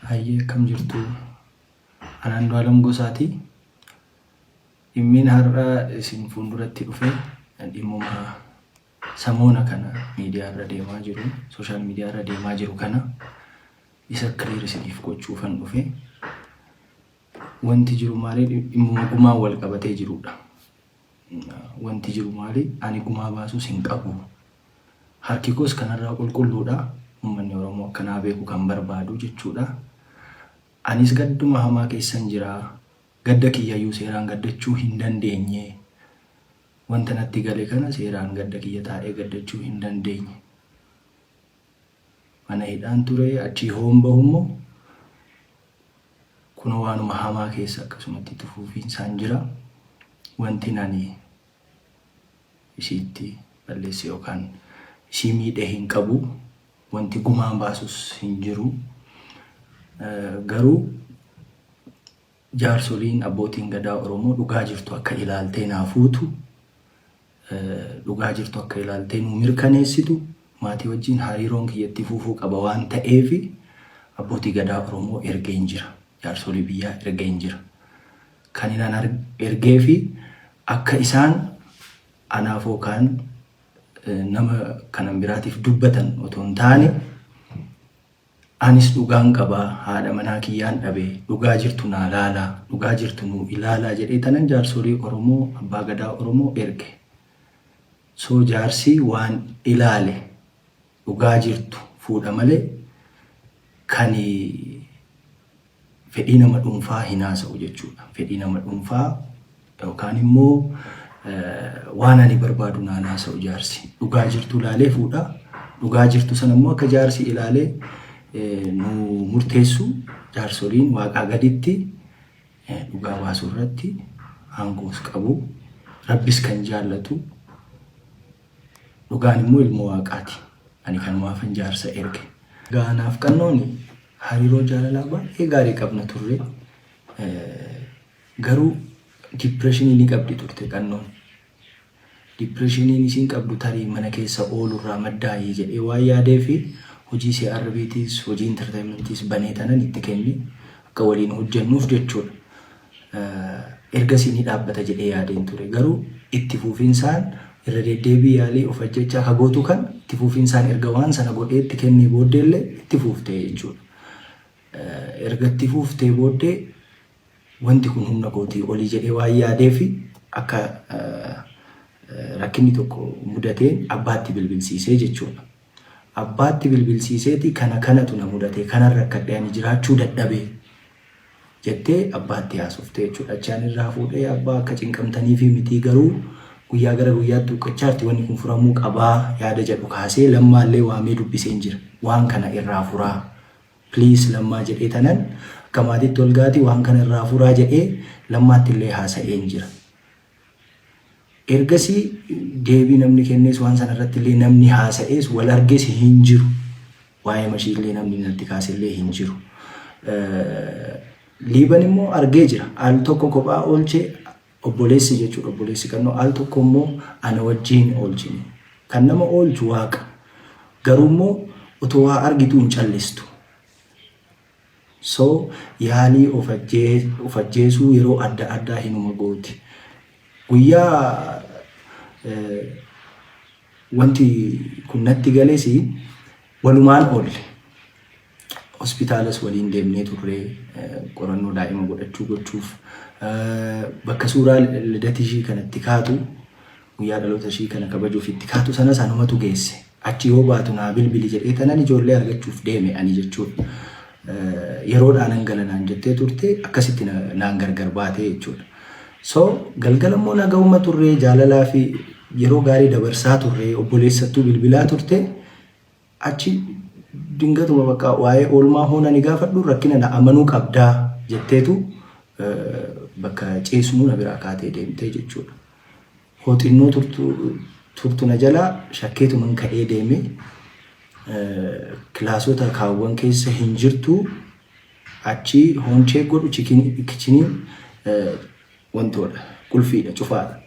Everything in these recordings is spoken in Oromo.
Hayyee akkam jirtu an Andu'aalam Gosaati. Dhimmiin har'a isin fuulduratti dhufe dhimmuma samoona kana miidiyaa irra deemaa jiru sooshaal miidiyaa irra deemaa jiru kana isa kiriir isiniif gochuufan dhufe. Wanti jiru maali dhimmuma gumaan wal qabatee jirudha. Wanti jiru maali ani gumaa baasuus hin qabu Harki koos kanarraa qulqulluudha. Ummanni Oromoo akka naa beeku kan barbaadu jechuudha. Anis gadduma hamaa keessan jira. Gadda kiyyayyuu seeraan gaddachuu hin dandeenye. Wanta natti gale kana seeraan gadda kiyya taa'ee gaddachuu hin dandeenye. Mana hidhaan ture achii hoon bahu immoo kunoo waanuma hamaa keessa akkasumatti itti fufiinsaan jira. Wanti ani isiitti balleesse yookaan isii miidhe hin qabu. Wanti gumaan baasus hin jiru. Garuu jaarsoliin abbootiin gadaa Oromoo dhugaa jirtu akka ilaaltee naa fuutu, dhugaa jirtu akka ilaaltee nuu mirkaneessitu maatii wajjin hariiroon kiyya itti fuufuu qaba waan ta'eef abbootii gadaa Oromoo ergeen jira. Jaarsolii biyyaa ergeen jira. kan inni ana ergee fi akka isaan anaaf yookaan nama kanan biraatiif dubbatan otoo hin taane anis dhugaan qabaa haadha manaa kiyyaan dhabe dhugaa jirtu naa laalaa dhugaa jirtu nuu ilaalaa jedhee tanan jaarsolii Oromoo abbaa gadaa Oromoo erge. So jaarsi waan ilaale Dhugaa jirtu fuudha malee kan fedhii nama dhuunfaa hin haasa'u jechuudha. Fedhii nama dhuunfaa yookaan immoo waan ani barbaadu naan haasa'u jaarsi. Dhugaa jirtu ilaalee fuudha. Dhugaa jirtu sana immoo akka jaarsi ilaalee nu murteessu jaarsoliin waaqaa gaditti dhugaa baasuu irratti aangoos qabu. Rabbis kan jaallatu Dhugaan immoo ilmoo Waaqaati. Ani kanumaafan jaarsa erge. Egaa anaaf Qannooni hariiroo jaalalaa baay'ee gaarii qabna turre. Garuu dipireeshinii ni qabdi turte Qannoon. Dipireeshiniin isiin qabdu tarii mana keessa oolurraa maddaayii jedhee waan yaadeefi hojii CRBtiis hojii intarteeyimantiis banee tanan itti kenne akka waliin hojjennuuf jechuudha. Ergasii ni dhaabbata jedhee yaadeen ture. Garuu itti fuufinsaan irra deddeebii yaalii of ajjechaa akka gootu kan itti fuufinsaan erga waan sana godhee itti kennee booddeellee itti fuuftee jechuudha. Erga itti fuuftee booddee wanti kun humna kootii olii jedhee waan yaadeef akka rakkinni tokko mudateen abbaatti bilbilsiisee jechuudha. Abbaatti bilbilsiiseeti kana kanatu na mudate kanan rakkadhe ani jiraachuu dadhabe jettee abbaatti haasofte jechuudha. Achi ani irraa fuudhee abbaa akka cinqamtaniifii mitii garuu guyyaa gara guyyaatti huqqachaarti wanni kun furamuu qabaa yaada jedhu kaasee lammaallee waamee dubbiseen jira. Waan kana irraa furaa please lammaa jedhee tanan akka maatitti olgaati waan kana irraa furaa jedhee lammaattillee haasa'een jira. Ergasii deebii namni kennees waan sana irratti illee namni haasa'ees wal arges hin jiru. Waa'ee mashii illee namni natti kaase illee hin jiru. Liiban immoo argee jira. Al tokko kophaa oolchee obboleessi jechuudha obboleessi kannoo al tokko immoo ana wajjin oolchine. Kan nama oolchu waaqa. Garuu immoo otoo waa argituu hin callistu. So, yaalii of of ajjeesuu yeroo adda addaa hinuma gooti. Guyyaa wanti kun natti gales walumaan oolle. Hospitaalas waliin deemnee turre qorannoo daa'ima godhachuu gochuuf. Bakka suuraa lidati ishii kanatti kaatu Guyyaa dhaloota ishii kana kabajuuf itti kaatu sanas anumatu geesse. Achi yoo baatu naa bilbili jedhee tanan ijoollee argachuuf deeme ani jechuudha. Yeroodhaa nan gala naan jettee turte akkasitti na- naan gargar baatee jechuudha. So galgala immoo nagahuma turree jaalalaa fi yeroo gaarii dabarsaa turree obboleessattuu bilbilaa turte Achi dingatuma bakka waa'ee oolmaa hoo nani gaafadhu rakkina na amanuu qabdaa jetteetu bakka ciisnuu na biraa kaatee deemtee jechuudha. Hoo xinnoo turtu, turtu na jalaa shakkeetuman ka'ee deeme kilaasota kaawwan keessa hin jirtu achi hoon cheek godhu kichinii wantoodha qulfiidha cufaadha.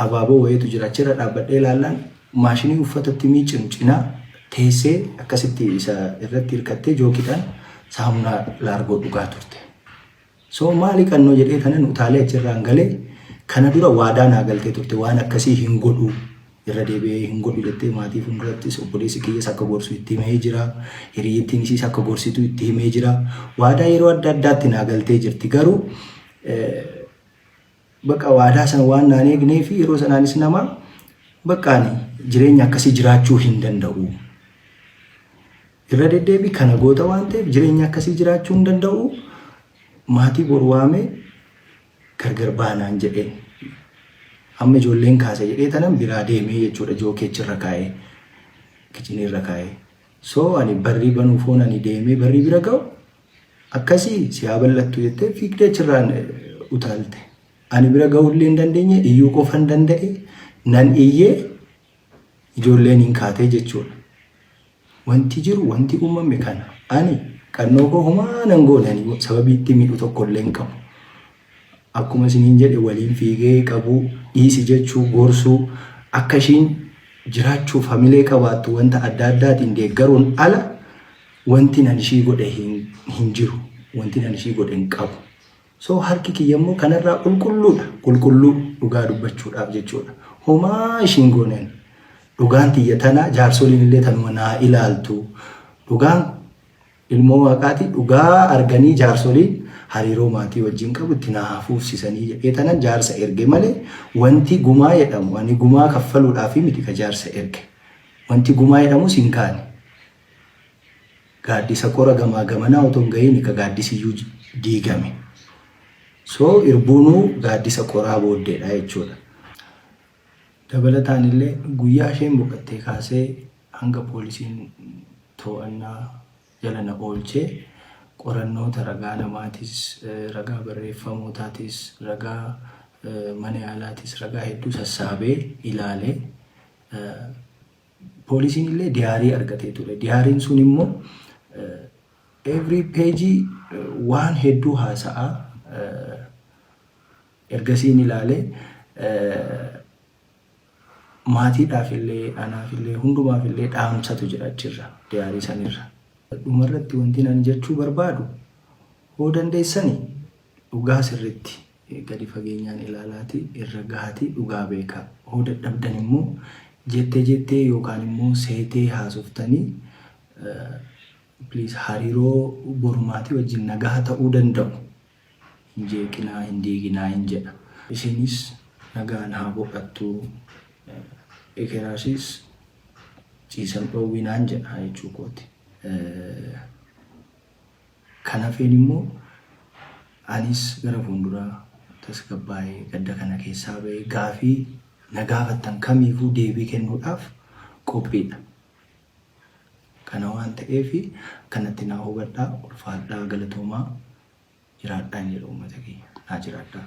Abaaboo wayiitu jira. Achirra dhaabbadhee ilaallaan maashinii uffata itti miiccinu cinaa teessee akkasitti isa irratti hirkattee jookiidhaan saamunaa laargoo dhugaa turte. So maali qannoo jedhee kanan utaalee achirraan galee kana dura waadaa naa galtee turte waan akkasii hin godhu irra deebi'ee hin godhu jettee maatii fuuldurattis obboleessi kiyyas akka gorsu itti himee jira. Hiriyyittiin isiis akka gorsitu itti himee jira. Waadaa yeroo adda addaatti naa galtee jirti garuu Bakka waadaa sana waan naan eegnee fi yeroo sanaanis nama bakka ani jireenya akkasii jiraachuu hin danda'u. Irra deddeebii kana goota waan ta'eef jireenya akkasii jiraachuu hin danda'u. Maatii bor waamee gargar baanaan jedhee. Amma ijoolleen kaasa jedhee tanan biraa deemee jechuudha jookeechi irra kaa'ee. Kichinii irra kaa'ee. So ani barrii banuuf hoon ani deemee barrii bira ga'u Akkasii si haa bal'attu jettee fiigdee achirraan utaalte. Ani bira ga'uullee hin dandeenye iyyuu qofan danda'e nan iyyee ijoolleen hin kaatee jechuudha. Wanti jiru wanti uumame kana ani qannoo koo homaa nan goone ani sababii itti miidhu tokkollee hin qabu. Akkuma isiniin jedhe waliin fiigee qabuu, dhiisi jechuu, gorsuu, akka ishiin jiraachuuf hamilee qabaattu wanta adda addaatiin deeggaruun ala wantin an ishii godhe hin jiru. Wantin an ishii godhe hin qabu. So harki kiyya immoo kanarraa qulqulluudha. Qulqulluu dhugaa dubbachuudhaaf jechuudha. Homaa ishiin gooneen. Dhugaan tiyya tana jaarsoliin illee tanuma naa ilaaltu. Dhugaan Ilmoo Waaqaati dhugaa arganii jaarsoliin hariiroo maatii wajjin qabu itti naa haa fuufsisanii jedhee tanan jaarsa erge malee wanti gumaa jedhamu ani gumaa kaffaluudhaaf miti ka jaarsa erge. Wanti gumaa jedhamus hin kaane. Gaaddisa qora gamaa gamanaa otoo hin gahiin ka gaaddisiyyuu diigame. So irbuunuu gaaddisa qoraa booddeedha jechuudha. Dabalataanillee guyyaa isheen boqattee kaasee hanga poolisiin to'annaa jala na oolche qorannoota ragaa namaatis, ragaa barreeffamootaatis, ragaa mana yaalaatis ragaa hedduu sassaabee ilaale. Poolisiin illee diyaarii argatee ture. Diyaariin sun immoo every page waan hedduu haasa'a. Ergasiin ilaale maatiidhaaf illee anaaf illee hundumaaf illee dhaamsatu jira achirra diyaarii sanirra. Dhumarratti wanti ani jechuu barbaadu hoo dandeessani dhugaa sirriitti gadi fageenyaan ilaalaati irra gahaati dhugaa beeka. Hoo dadhabdan immoo jette jettee yookaan immoo seetee haasoftanii please hariiroo borumaatii wajjin nagaha ta'uu danda'u. hin jeeqinaa, hin diiginaa hin jedha. Isiinis nagaan haa boqattu, ekeraasis ciisan dhoowwinaan jedha jechuu kooti. Kan hafeen immoo anis gara fuunduraa tasgabbaa'ee gadda kana keessaa ba'ee gaafii na gaafattan kamiifuu deebii kennuudhaaf qophiidha. Kana waan ta'eef akkanatti naa hubadhaa, ulfaadhaa, galatoomaa jiraadhaa hin jedhu uummata kiyya naa jiraadhaa.